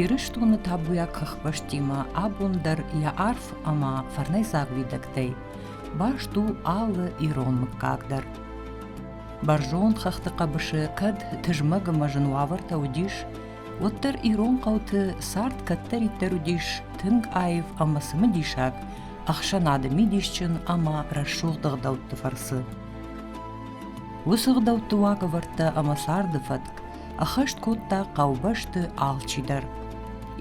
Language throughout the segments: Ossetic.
Ирыстоны табуйаг хыхбӕстимӕ абон дӕр йӕ арф ӕмӕ фӕрнӕйдзаг уидӕгтӕй баст у алы ирон мыггаг дӕр. Бӕрзонд хӕхты хъӕбысы кӕд тызмӕг ӕмӕ зын уавӕртӕ уыдис, уӕддӕр ирон хъӕуты цард кӕддӕриддӕр уыдис тынг аив ӕмӕ цымыдисаг, ӕхсӕнады мидисджын ӕмӕ рӕсугъд ӕгъдӕутты фӕрцы. Уыцы ӕгъдӕутты уагӕвӕрдтӕ ӕмӕ царды фӕтк ӕххӕст кодта хъӕубӕсты алчидӕр.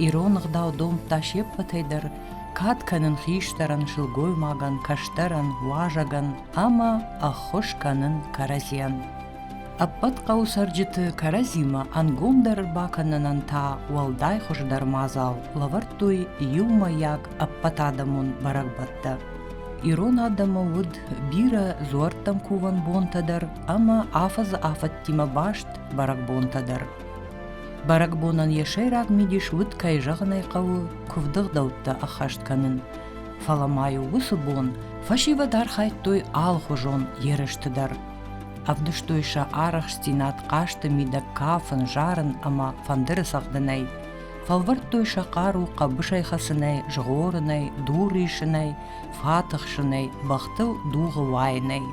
Ирон ӕгъдау домдта се ппӕтӕй дӕр кад кӕнын хистӕрӕн, сылгоймагӕн, кӕстӕрӕн, уазӕгӕн ӕмӕ ӕххуыс кӕнын кӕрӕдзийӕн. Ӕппӕт хъӕуы цӕрджыты кӕрӕдзимӕ ӕнгомдӕр бакӕнынӕн та уӕлдай хуыздӕр мадзал лӕвӕрдтой иумӕйаг ӕппӕтадӕмон бӕрӕгбӕттӕ. Ирон адӕмы уыд бирӕ дзуӕрттӕм кувӕн бонтӕ дӕр ӕмӕ афӕдзы афӕдтимӕ баст бӕрӕгбонтӕ дӕр. Бӕрӕгбонӕн йӕ сӕйраг мидис уыд, кӕй зӕгъын ӕй хъӕуы, куывдыгъдӕуттӕ ӕххӕст кӕнын. Фӕлӕ ма-иу уыцы бон фӕсивӕд архайдтой алхуызон ерысты дӕр. Ӕвдыстой сӕ арӕхстдзинад хъазты мидӕг кафын, зарын ӕмӕ фӕндыры цӕгъдынӕй. Фӕлвӕрдтой сӕ хъару хъӕбысӕй хӕцынӕй, згъорынӕй, дур исынӕй, фӕтыхсынӕй, бӕхтыл дугъы уайынӕй.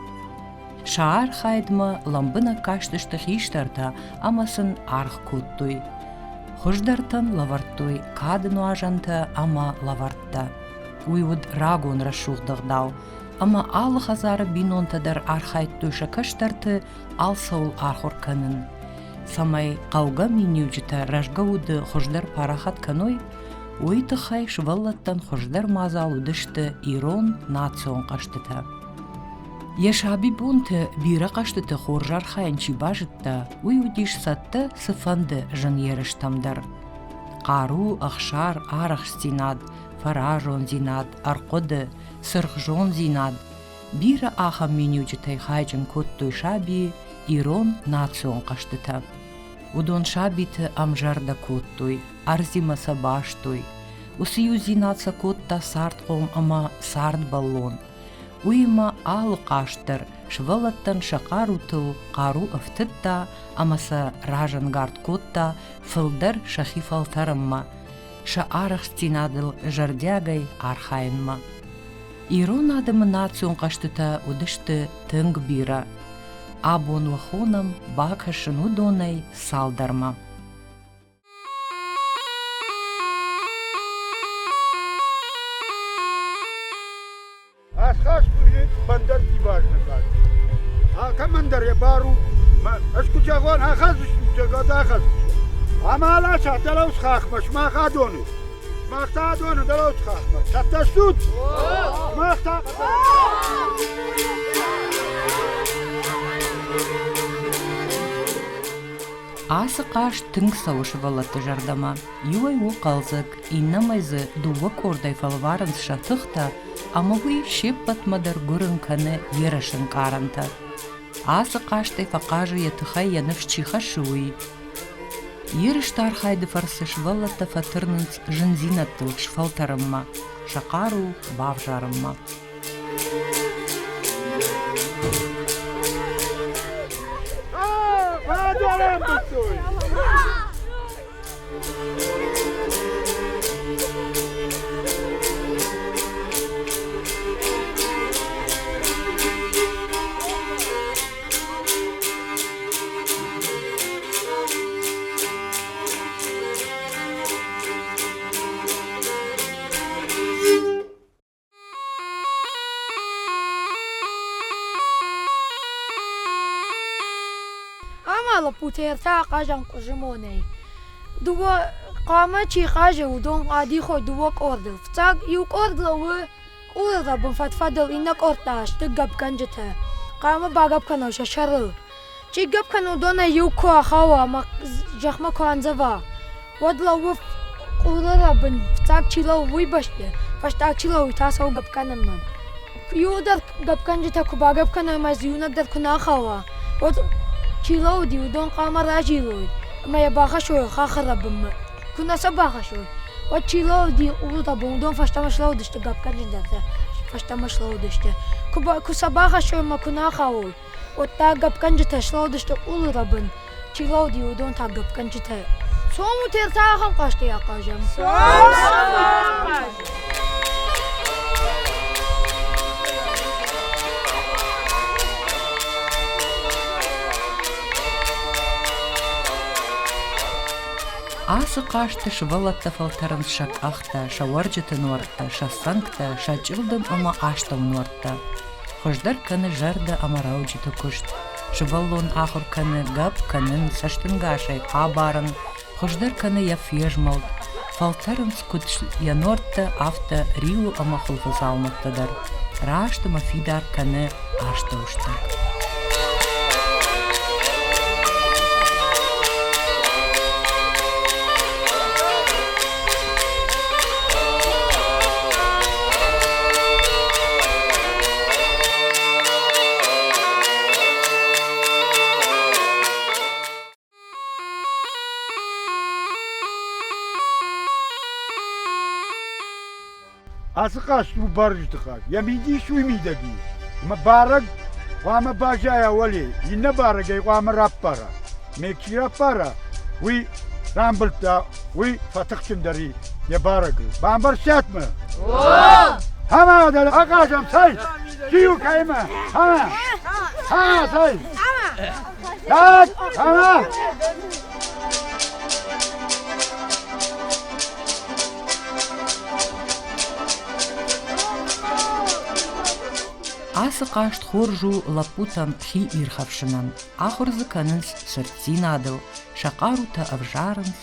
Сӕ архайдмӕ лӕмбынӕг кастысты хистӕртӕ ӕмӕ сын аргъ кодтой. Хуыздӕртӕн лӕвӕрдтой кады нуазӕнтӕ ӕмӕ лӕвӕрттӕ. Уый уыд рагон рӕсугъд ӕгъдау, ӕмӕ алы хӕдзары бинонтӕ дӕр архайдтой сӕ кӕстӕрты алцӕуыл ахуыр кӕнын. цӕмӕй хъӕугӕ миниуджытӕ рӕзгӕ уды хуыздӕр парахат кӕной, уый тыххӕй сывӕллӕттӕн хуыздӕр мадзал уыдысты ирон национ хъӕзтытӕ. Йӕ сабибонты бирӕ хъӕзтыты хорз архайын чи базыдта, уый уыдис цӕттӕ цыфӕнды зын ерыстӕм дӕр. Хъару, ӕхсар, арӕхстдзинад, фӕразондзинад, ӕрхъуыды, сырхзондзинад Бирӕ ахӕм миниуджытӕй хайджын кодтой сабийы ирон национ хъӕзтытӕ. Уыдон сабиты ӕмзӕрдӕ кодтой, ӕрдзимӕ сӕ бастой. Уыцы иудзинад сӕ кодта цардхъом ӕмӕ цардбӕллон. Уыимӕ алы хъазт дӕр сывӕллӕттӕн сӕ хъарутыл хъару ӕфтыдта ӕмӕ сӕ разӕнгард кодта фылдӕр сӕхи фӕлтӕрынмӕ, сӕ арӕхстдзинадыл зӕрдиагӕй архайынмӕ. Ирон адӕмы национ хъӕзтытӕ уыдысты тынг бирӕ. Абон уӕ хонӕм бакӕсын уыдонӕй цалдӕрмӕ. Ӕсхӕс куы бандӕрти бӕрнӕгад. Алкӕмӕн дӕр йӕ бар у, ӕз куы зӕгъон, ахӕдзыстут, гад ахӕдзыстут. Ама аласат, дӕлӕ хахмӕ, сымах адоны. Мах та доны дӕлӕуд хахмӕ цӕттӕ стут? Мах та... Ацы хъазт тынг цӕуы сывӕллӕтты зӕрдӕмӕ. Иуӕй у хъӕлдзӕг, иннӕмӕй дзы дыууӕ къордӕй фӕлварынц сӕ тыхтӕ, ӕмӕ уый се ппӕтмӕ дӕр гуырын кӕны йе рыснкъарӕнтӕ. Ацы хъазтӕй фӕхъазы, йӕ тыхӕй йӕ ныфс чи хӕссы, уый, Ерысты архайды фӕрцы сывӕллӕттӕ фӕтырнынц зындзинӕдтыл сфӕлтӕрынмӕ, сӕ хъару бавзарынмӕ. лӕппутӕ та ахъазан къуызимонӕй. Дыууӕ хъуамӕ чи хъазы, уыдон гъӕдихой дыууӕ къорды. Фыццаг иу къорд лӕууы Къулыл ӕрбынфӕд-фӕдыл иннӕ къордтӕ сты гӕпгӕнджытӕ. Хъӕумӕ багӕпп кӕной сӕ сӕрыл. Чи гӕпп кӕны, уыдонӕй иу куы ахауа ӕмӕ зӕхмӕ куы андзӕва, уӕд лӕууы къулы рӕбын, фыццаг чи лӕууы, уый бӕсты, фӕстаг чи лӕууы, та цӕуы гӕпп кӕнынмӕ. Иуы дӕр гӕпгӕнджытӕ куы багӕпп кӕной ӕмӕ дзы иунӕг дӕр куы нӕ ахауа, уӕд чи лӕууыди, уыдон хъӕумӕ разилой ӕмӕ йӕ бахӕссой хахы рӕбынмӕ. Куы нӕ сӕ бахӕссой, уӕд чи лӕууыди къултӕ, уыдон фӕстӕмӕ слӕууыдысты гӕпгӕнджындӕртӕ, фӕстӕмӕ слӕууыдысты. Куы сӕ бахӕссой ӕмӕ куы нӕ ахауой, уӕд та гӕпгӕнджытӕ слӕууыдысты къулы рӕбын, чи лӕууыди, уыдон та гӕпгӕнджытӕ. Сомы тер та ахӕм хъӕстӕй ахъазӕм. Ацы хъазты сывӕллӕттӕ фӕлтӕрынц сӕ къӕхтӕ, сӕ уӕрджыты нуӕрттӕ, сӕ цӕнгтӕ, сӕ чъылдым ӕмӕ астӕу нуӕрттӕ. Хуыздӕр кӕны зӕрдӕ ӕмӕ рӕуджыты куыст. Сывӕллон ахуыр кӕны, гӕпп кӕнын, цӕстынгасӕй абарын, хуыздӕр кӕны йӕ фезмӕлд. Фӕлтӕрынц куыд йӕ норттӕ, афтӕ риуы ӕмӕ хуылфы дзаумӕттӕ дӕр, раст ӕмӕ фидар кӕны астӕус дӕр. Ацы хъазт у барджытыхаг, йӕ мидис уый мидӕг и, ӕмӕ барӕг хъуамӕ баззайа уӕле, иннӕ барӕг ӕй хъуамӕ раппара. Ме чи раппара, уый рамбылдта, уый фӕтыхджындӕр и йӕ барӕгыл. Бамбӕрстат мӕ? Хамā dēļ aqāžam sai, Kīvu kaimā! Hamā! Hamā sai! Кат! Ама! Ацы хъазт хорз у лӕппутӕн хи ирхӕфсынӕн. Ахуыр дзы кӕнынц сырддзинадыл, сӕ хъарутӕ ӕвзарынц,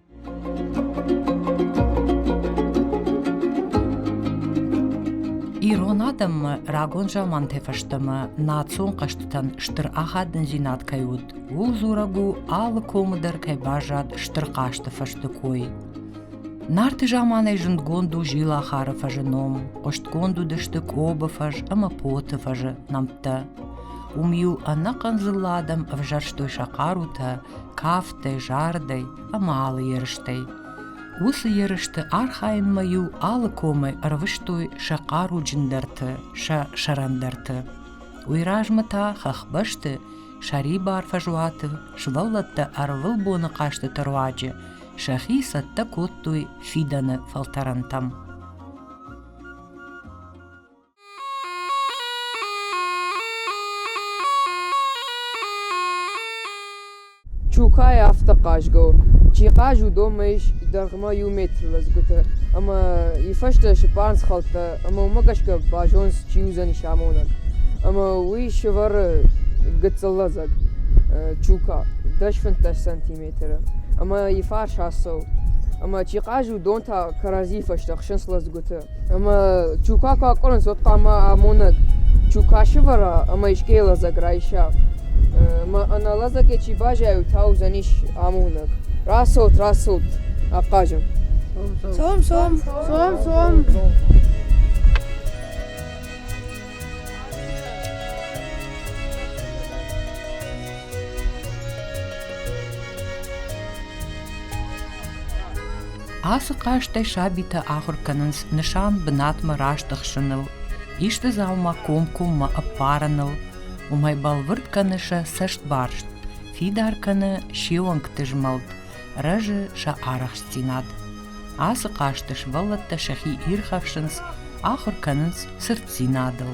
Ирон адӕммӕ рагон заманты фӕстӕмӕ национ хъӕзтытӕн стыр ахадындзинад кӕй уыд, ууыл дзурӕг у алы комы дӕр кӕй баззад стыр хъазты фӕрсты кой. Нарты заманӕй зындгонд у зилахары фӕзы ном, хъуыстгонд уыдысты къобы фӕз ӕмӕ поты фӕзы нӕмттӕ. Уым иу ӕнӕхъӕн дзыллӕ адӕм ӕвзӕрстой сӕ хъарутӕ, кафтӕй, зардӕй ӕмӕ алы ерыстӕй. Уыцы ерысты архайынмӕ-иу алы комӕй ӕрвыстой сӕ хъаруджындӕрты, сӕ сӕрӕндӕрты. Уый размӕ та хӕхбӕсты, сӕрибар фӕзуаты, сывӕллӕттӕ ӕрвылбоны хъазтыты руаджы сӕхи цӕттӕ кодтой фидӕны фӕлтӕрӕнтӕм. Чукай афтӕ хъазгӕ у, чи хъаз, уыдонмӕ ис дӕргъмӕ иу метр лӕдзгуытӕ ӕмӕ йыфӕстӕ сыппар схӕлдтӕ, ӕмӕ уымӕ гӕсгӕ базоныс, чи уыдзӕнис амонӕг. Ӕмӕ уый сӕвӕры гыццыл лӕдзӕг Чука, дӕс фынддӕс сантиметры, ӕмӕ йыфарс ацӕуы. Ӕмӕ чи хъаз, уыдон та кӕрӕдзийы фӕстӕ хсынц лӕдзгуыты. Ӕмӕ чука куы акъуырынц, уӕд хъуамӕ амонӕг чука сывӕра ӕмӕ искӕй лӕдзӕг райса. Ӕмӕ ӕнӕ лӕдзӕгӕй чи баззайой, та уыдзӕнис амонӕг. Рацӕут, рацӕут, ахъазӕм. Цом, цом, цом, цом. Ацы хъазтӕй сабитӕ ахуыр кӕнынц нысан бынатмӕ раст ӕхсыныл, исты дзаума комкоммӕ ӕппарыныл. Уымӕй бӕлвырд кӕны сӕ цӕстбарст, фидар кӕны се уӕнгты змӕлд, рӕзы сӕ арӕхстдзинад. Ацы хъазты сывӕллӕттӕ сӕхи ирхӕфсынц, ахуыр кӕнынц цырддзинадыл.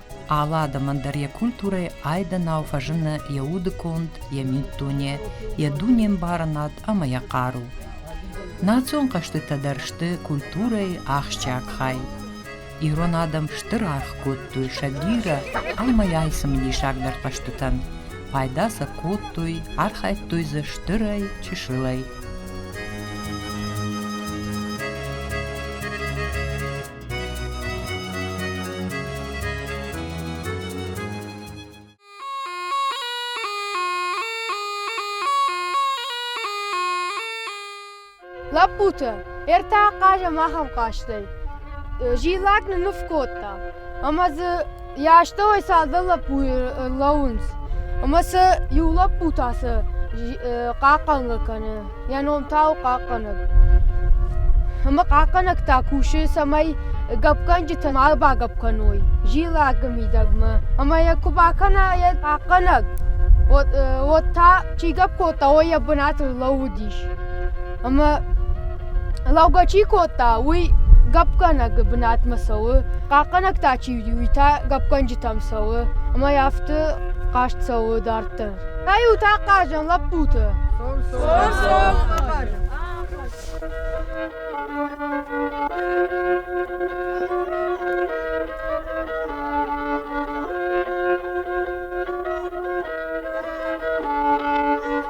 Алы адӕмӕн дӕр йӕ культурӕйы айдӕнау фӕзыны йӕ удыконд, йӕ миддуне, йӕ дунембарынад ӕмӕ йӕ хъару. Национ хъӕзтытӕ дӕр сты культурӕйы ахсджиаг хай. Ирон адӕм стыр аргъ кодтой сӕ бирӕ ӕмӕ йӕ цымыдисагдӕр хъӕзтытӕн. Пайда сӕ кодтой, архайдтой дзы стырӕй, чысылӕй. Лӕппутӕ, ӕртӕ ахъаз ӕмӕ ахӕм хъазтӕй. Зиллаг ныныв кодта, ӕмӕ дзы Йӕ астӕуӕй цалдӕр лӕппуйы лӕууынц, ӕмӕ сӕ иу лӕппу та сӕ хъахъхъӕнгӕ кӕны. Йӕ ном та у хъахъхъӕнӕг. Ӕмӕ хъахъхъӕнӕг та кусы, цӕмӕй гӕпгӕнджытӕ ма багӕпп кӕной зилӕгы мидӕгмӕ. Ӕмӕ йӕ куы бакӕна йӕ хъахъхъӕнӕг, уӕд та чи гӕпп кодта, уый йӕ бынаты лӕууыдис. Ӕмӕ лӕугӕ чи кодта, уый гӕппгӕнӕгы бынатмӕ цӕуы, хъахъхъӕнӕг та чи уыди, уый та гӕппгӕнджытӕм цӕуы, ӕмӕ афтӕ хъазт цӕуы дарддӕр. Та-иу та хъазӕм лӕппуты.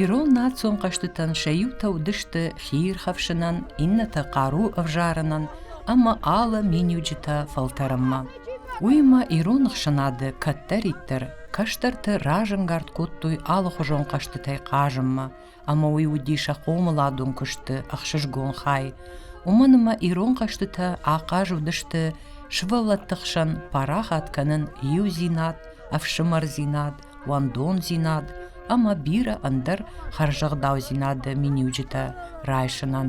Ирон национ хъӕзтытӕн сӕ иутӕ уыдысты хиирхӕфсынӕн, иннӕтӕ хъару ӕвзарынӕн ӕмӕ алы миниуджытӕ фӕлтӕрынмӕ. Уыимӕ ирон ӕхсӕнады кӕддӕриддӕр кӕстӕрты разӕнгард кодтой алыхуызон хъӕзтытӕй хъазынмӕ, ӕмӕ уый уыди сӕ хъомыладон куысты ӕхсызгон хай. Уымӕн ӕмӕ ирон хъӕзтытӕ ахъаз уыдысты сывӕллӕтты хсӕн парахат кӕнын иудзинад, ӕфсымӕрдзинад, уӕндондзинад ӕмӕ бирӕ ӕндӕр хӕрзӕгъдаудзинады миниуджытӕ райсынӕн.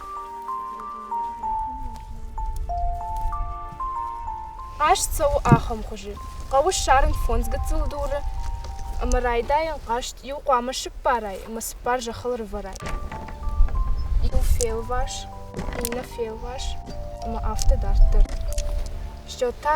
Хъазт цӕуы ахӕм хуызы: хъӕуы ссарын фондз гыццыл дуры ӕмӕ райдайын хъазт иу хъуамӕ сыппарай ӕмӕ цыппар зӕххыл рывӕрай. Иу фелвас, иннӕ фелвас ӕмӕ афтӕ дарддӕр. Счет та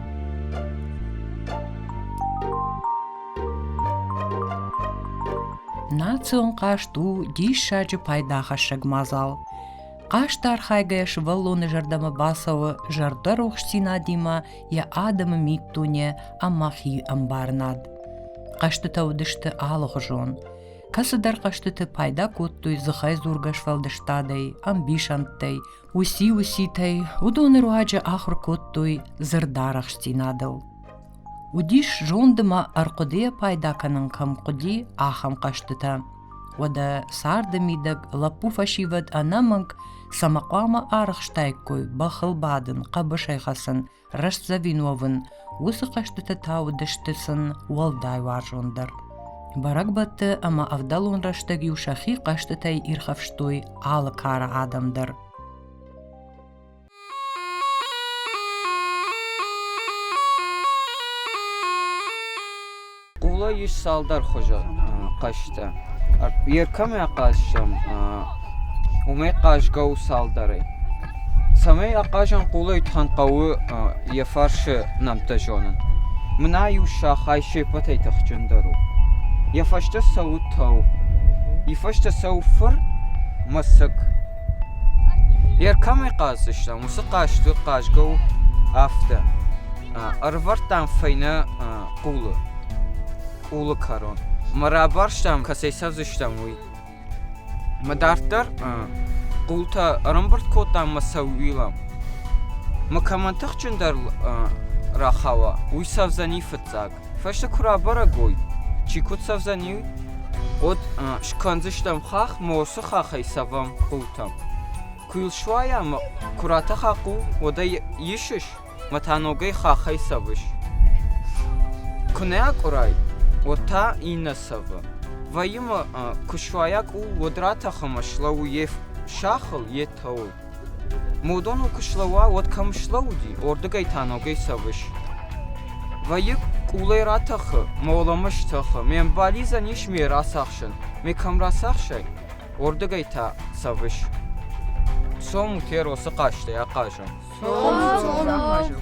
Национ хъазт у диссаджы пайдахӕссӕг мадзал. Хъазт архайгӕ сывӕллоны зӕрдӕмӕ бацӕуы зӕрдӕрухсдзинадимӕ йӕ адӕмы миддуне ӕмӕ хи ӕмбарынад. Хъӕзтытӕ уыдысты алыгъуызон. Кӕцыдӕр хъӕзтыты пайда кодтой дзыхӕйдзургӕ сфӕлдыстадӕй, ӕмбисӕндтӕй, Уыси-уситӕй уыдоны руаджы ахуыр кодтой дзырдарӕхстдзинадыл. Уыдис зонд ӕмӕ ӕрхъуыдыйӕ пайда кӕнын кӕм хъуыди, ахӕм хъӕзтытӕ. Уӕдӕ царды мидӕг лӕппу фӕсивӕд ӕнӕмӕнг цӕмӕ хъуамӕ арӕхстаиккой бӕхыл бадын, хъӕбысӕй хӕцын, Рӕстдзӕвин уӕвын, уыцы хъӕзтытӕ та уыдысты сын уӕлдай уарзондӕр. Бӕрӕгбӕтты ӕмӕ ӕвдӕлон рӕстӕг-иу сӕхи хъӕзтытӕй ирхӕфстой алы кары адӕм дӕр. Къула ис цалдӕр хуызы хъазтӕ. Йӕ кӕмӕ хъазӕм, уымӕй хъазгӕ у цалдӕрӕй. Цӕмӕй ахъазӕм къулӕй, тӕн хъӕуы йӕ фарсы нӕмттӕ зонын. Мына-иу сахай се ппӕтӕй тыхджындӕр у. Йӕ фӕстӕ цӕуы тӕу. Йӕ фӕстӕ цӕуы фыр мӕсыг. Йе ркӕмӕй хъазыдыстӕм, уыцы хъазты хъазгӕ у афтӕ: ӕрӕвӕрдтам фӕйнӕ къулы, къулы кӕрон ӕмӕ рабарстам, кӕцӕй цӕудзыстӕм, уый. Ӕмӕ дарддӕр къултӕ ӕрӕмбырд кодтам ӕмӕ сӕууилӕм. Ӕмӕ кӕмӕн тыхджындӕр рахауа, уый цӕудзӕни фыццаг. Фӕсте куы рабӕрӕг уой, чи куыд цӕвдзӕни, уӕд скӕндзыстӕм хахх ӕмӕ уыцы хаххӕй цӕвӕм хъултӕм. Куы йыл суайа ӕмӕ куы ратӕха хъул, уӕд ӕй исыс ӕмӕ та ногӕй хаххӕй цӕвыс. Куы нӕ акъуырай, уӕд та иннӕ цӕвы. Вӕййы ма куы суайа къул, уӕд ратӕх ӕмӕ слӕуу йе сахыл, йе тӕуыл. Мудоныл куы слӕууа, уӕд кӕм слӕууыди, уырдыгӕй та ногӕй цӕуыс. Вӕййы къулӕй ратӕхы, моломӕ стӕхы, ме мбализӕн ис ме рацахсын, ме кӕм рацахсай, уырдыгӕй та цӕвыс. Цом, Херо, цы хъазтӕй ахъазӕм? Цом, цом, ахъазӕм.